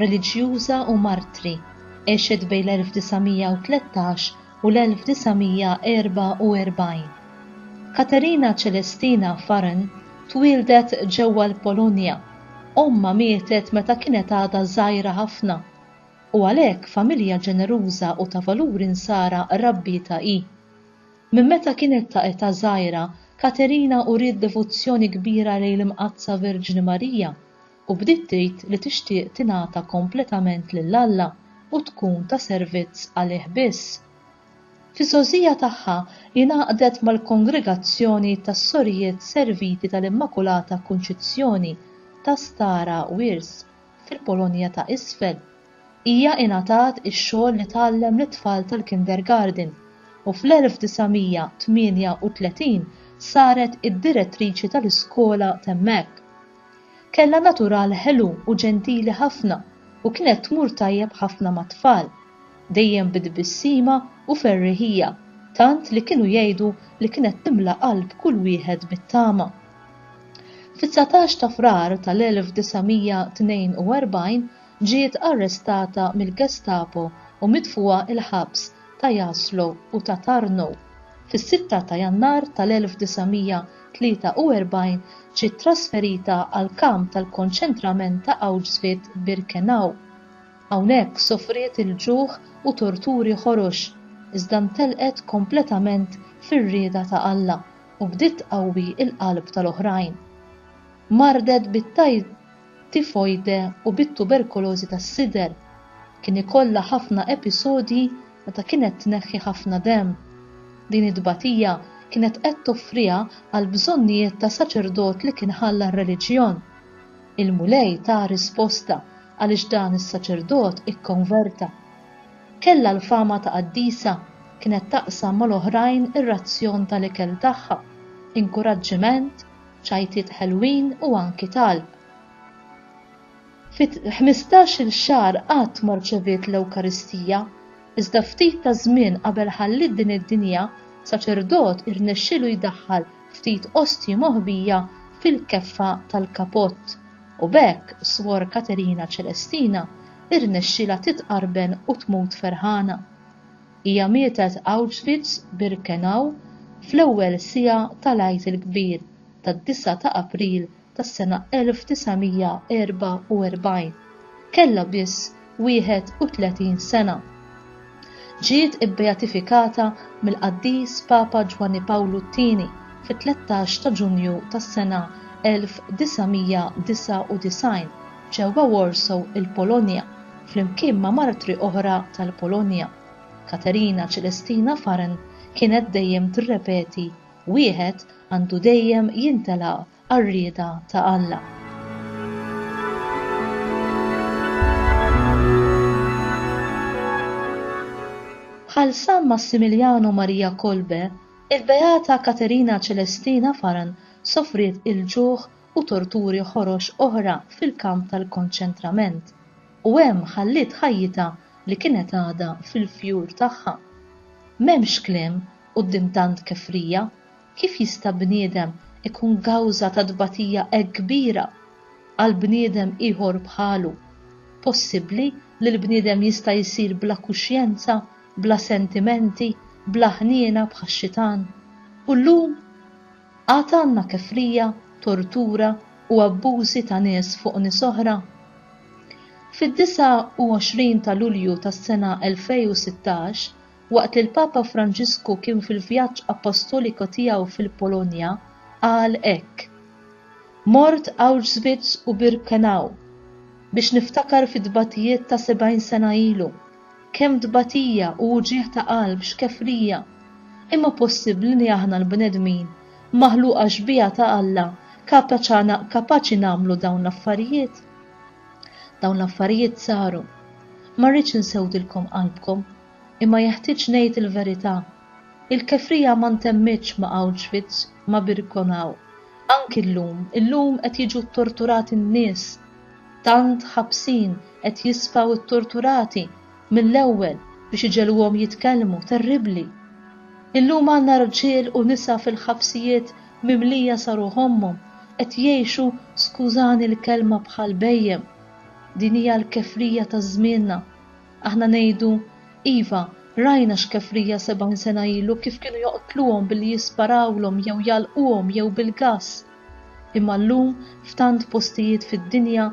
reliġjuża u martri, għexet bejn l-1913 u l-1944. Katerina Celestina Farren twieldet ġewwa l-Polonja, ommha mietet meta kienet għadha żgħira ħafna, u għalhekk familja ġeneruża u ta' valuri Nsara rabbietha hi. Minn meta kienet ta' età żgħira, Katerina uriet devozzjoni kbira lejn l-Imqaddsa Verġni Marija, u bdiet tgħid li tixtieq tingħata kompletament lil Alla u tkun ta' servizz għalih biss. Fiż-żgħożija tagħha hi ngħaqdet mal-Kongregazzjoni tas-Sorijiet Serviti tal-Immakulata Kunċizzjoni ta' Stara Wirs, fil-Polonja ta' Isfel. Hija ingħatat ix-xogħol li tgħallem lit-tfal tal-kindergarten u fl-1938 saret id-direttriċi tal-iskola t'hemmhekk. Kellha natural ħelu u ġentili ħafna u kienet tmur tajjeb ħafna mat-tfal. Dejjem bi tbissima u ferriħija, tant li kienu jgħidu li kienet timla qalb kull wieħed bit-tama. Fit-dsatax ta' Frar tal-1942 ġiet arrestata mill-Gestapo u mitfugħa il-ħabs ta' Jaslo u ta' Tarnow, fis-sitta ta' Jannar tal-1943 ġiet trasferita għall-kamp tal-konċentrament ta' Auschwitz-Birkenau. Hawnhekk sofriet il-ġuħ u torturi ħorox, iżda ntelqet kompletament fir-rieda ta' Alla u bdiet tqawwi l-qalb tal-oħrajn. Mardet bit-. tifoide u bit-tuberkulożi tas-sider. Kien ikollha ħafna episodji meta kienet tneħħi ħafna demm. Din it-tbatija kienet qed toffriha għall-bżonnijiet ta' saċerdot li kien ħalla r-reliġjon. Il-Mulej taha risposta għaliex dan is-saċerdot ikkonverta. Kellha l-fama ta' qaddisa, kienet taqsam mal-oħrajn ir-razzjon tal-ikel tagħha, inkuraġġiment ċajtiet ħelwin u anki talb. Fi ħmistax-il xahar qatt ma rċeviet l-Ewkaristija, iżda ftit ta' żmien qabel ħalliet din id-dinja, saċerdot irnexxielu jdaħħal ftit ostji moħbija fil-keffa tal-kapott, u b'hekk Swor Katerina Ċelestina irnexxielha titqarben u tmut ferħana. Hija mietet Auschwitz, Birkenau, fl-ewwel siegħa tal-Għid il-Kbir tad-disgħa ta' April tas-sena 1944. Kellha biss 31 sena. Ġiet ibbeatifikata mill-Qaddis Papa Ġwanni Pawlu t-Tieni fit-13 ta' Ġunju tas-sena 1999. ġewwa Warsaw, il-Polonja, flimkien ma' martri oħra tal-Polonja. Katerina Celestina Farren kienet dejjem tirrepeti, Wieħed għandu dejjem jintela' għar-rieda ta' Alla. Bħal San Massimiliano Maria Kolbe, il-Beata Katerina Celestina Farren sofriet il-ġuħ u torturi ħorox oħra fil-kamp tal-konċentrament u hemm ħalliet ħajjitha li kienet għadha fil-fjur tagħha. M'hemmx kliem quddiem tant kefrija, kif jista' bniedem ikun kawża ta' tbatija hekk kbira għal bniedem ieħor bħalu? Possibbli li l-bniedem jista' jsir bla kuxjenza, bla sentimenti, bla ħniena bħax-xitan? U llum? Għad għandna kefrija, tortura u abbużi ta' nies fuq nies oħra? Fid-29 ta' Lulju tas-sena 2016, waqt li l-Papa Franġisku kien fil-vjaġġ appostoliko tiegħu fil-Polonja, qal hekk, Mort Auschwitz u Birkenau biex niftakar fit-tbatijiet ta' 70 sena ilu. Kemm tbatija u wġigħ ta' qalb, xkefrija! Imma possibbli li aħna l-bnedmin, maħluqa xbieha ta' Alla, kapaċi nagħmlu dawn l-affarijiet? Dawn l-affarijiet saru. Ma rridx insewdilkom qalbkom, imma jeħtieġ ngħid il-verità. Il-kefrija ma ntemmitx ma' Auschwitz, ma' Birkenau. Anki llum, illum qed jiġu ttorturati n-nies Tant ħabsin qed jisfaw ittorturati mill-ewwel biex iġegħluhom jitkellmu, terribbli! Illum għandna rġiel u nisa fil-ħabsijiet mimlija sa ruħommhom qed jgħixu skużani l-kelma bħal bhejjem. Din hija l-kefrija ta' żmienna. Aħna ngħidu, iva, rajna x'kefrija sebgħin sena ilu kif kienu joqtluhom billi jisparawlhom jew jgħalquhom jew bil-gass. Imma llum f'tant postijiet fid-dinja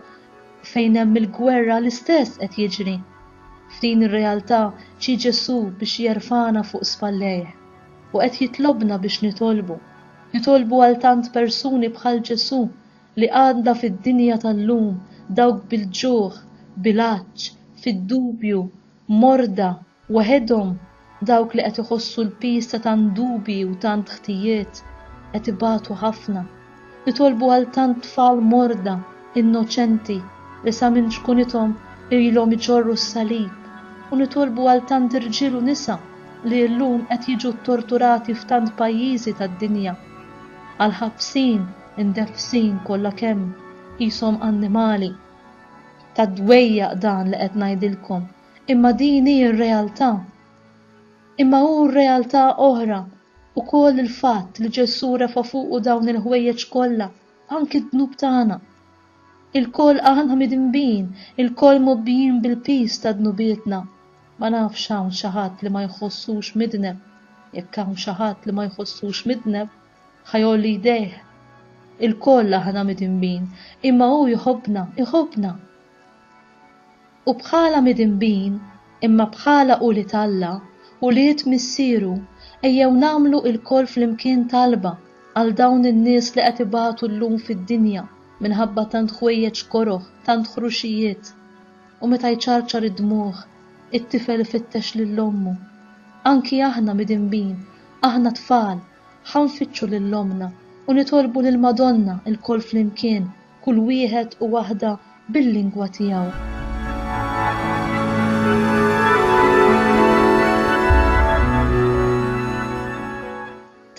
fejn hemm il-gwerra l-istess qed jiġri. F'din ir-realtà ġie Ġesù biex jerfagħna fuq spallejh. U qed jitlobna biex nitolbu. Nitolbu għal tant persuni bħal Ġesù li għandna fid-dinja tal-lum, dawk bil-ġuħ, bil-għatx, fid-dubju, morda, Waħedhom, dawk li qed iħossu l-piż ta' tant dubji u tant ħtijiet, qed ibatu ħafna. Nitolbu għal tant tfal morda, innoċenti, li sa minn ċkunithom ilhom iġorru s-salib, u nitolbu għal tant irġiel u nisa li illum qed jiġu ttorturati f'tant pajjiżi tad-dinja. Għal ħabsin, indefsin kollha kemm, qishom annimali. Ta' dwejjaq dan li qed ngħidilkom, imma din hi r-realtà. Imma hu r-realtà oħra wkoll il-fatt li Ġesù refa' fuqu dawn il-ħwejjeġ kollha, anki d-dnub tagħna. Ilkoll aħna midinbin, ilkoll mgħobbijin bil-piż ta' dnubietna. Ma nafx hawn xi ħadd li ma jħossux midneb. Jekk hawn xi ħadd li ma jħossux midneb, ħa jgħolli jdejh. Ilkoll aħna midinbin, imma hu jħobbna, iħobbna. U bħala midinbin, imma bħala ulied Alla, ulied Missieru, ejjew nagħmlu ilkoll flimkien talba għal dawn in-nies li qed ibatu llum fid-dinja minħabba tant ħwejjeġ koroh, tant ħruxijiet. U meta jċarċar id-dmugħ, it-tifel ifittex lil ommu. Anki aħna midinbin, aħna tfal, ħa nfittxu lil ommna u nitolbu lill-Madonna lkoll flimkien kull wieħed u waħda bil-lingwa tiegħu.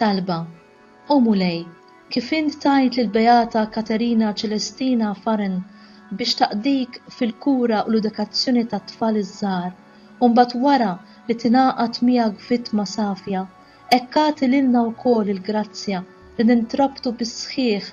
Talba, O Mulej, kif int tajt lill-Beata Katerina Celestina Farren biex taqdik fil-kura u l-edukazzjoni tat-tfal iż-żgħar, u mbagħad wara li tingħaqad miegħek vittma safja, hekk agħti lilna wkoll il-grazzja li nintrabtu bis-sħiħ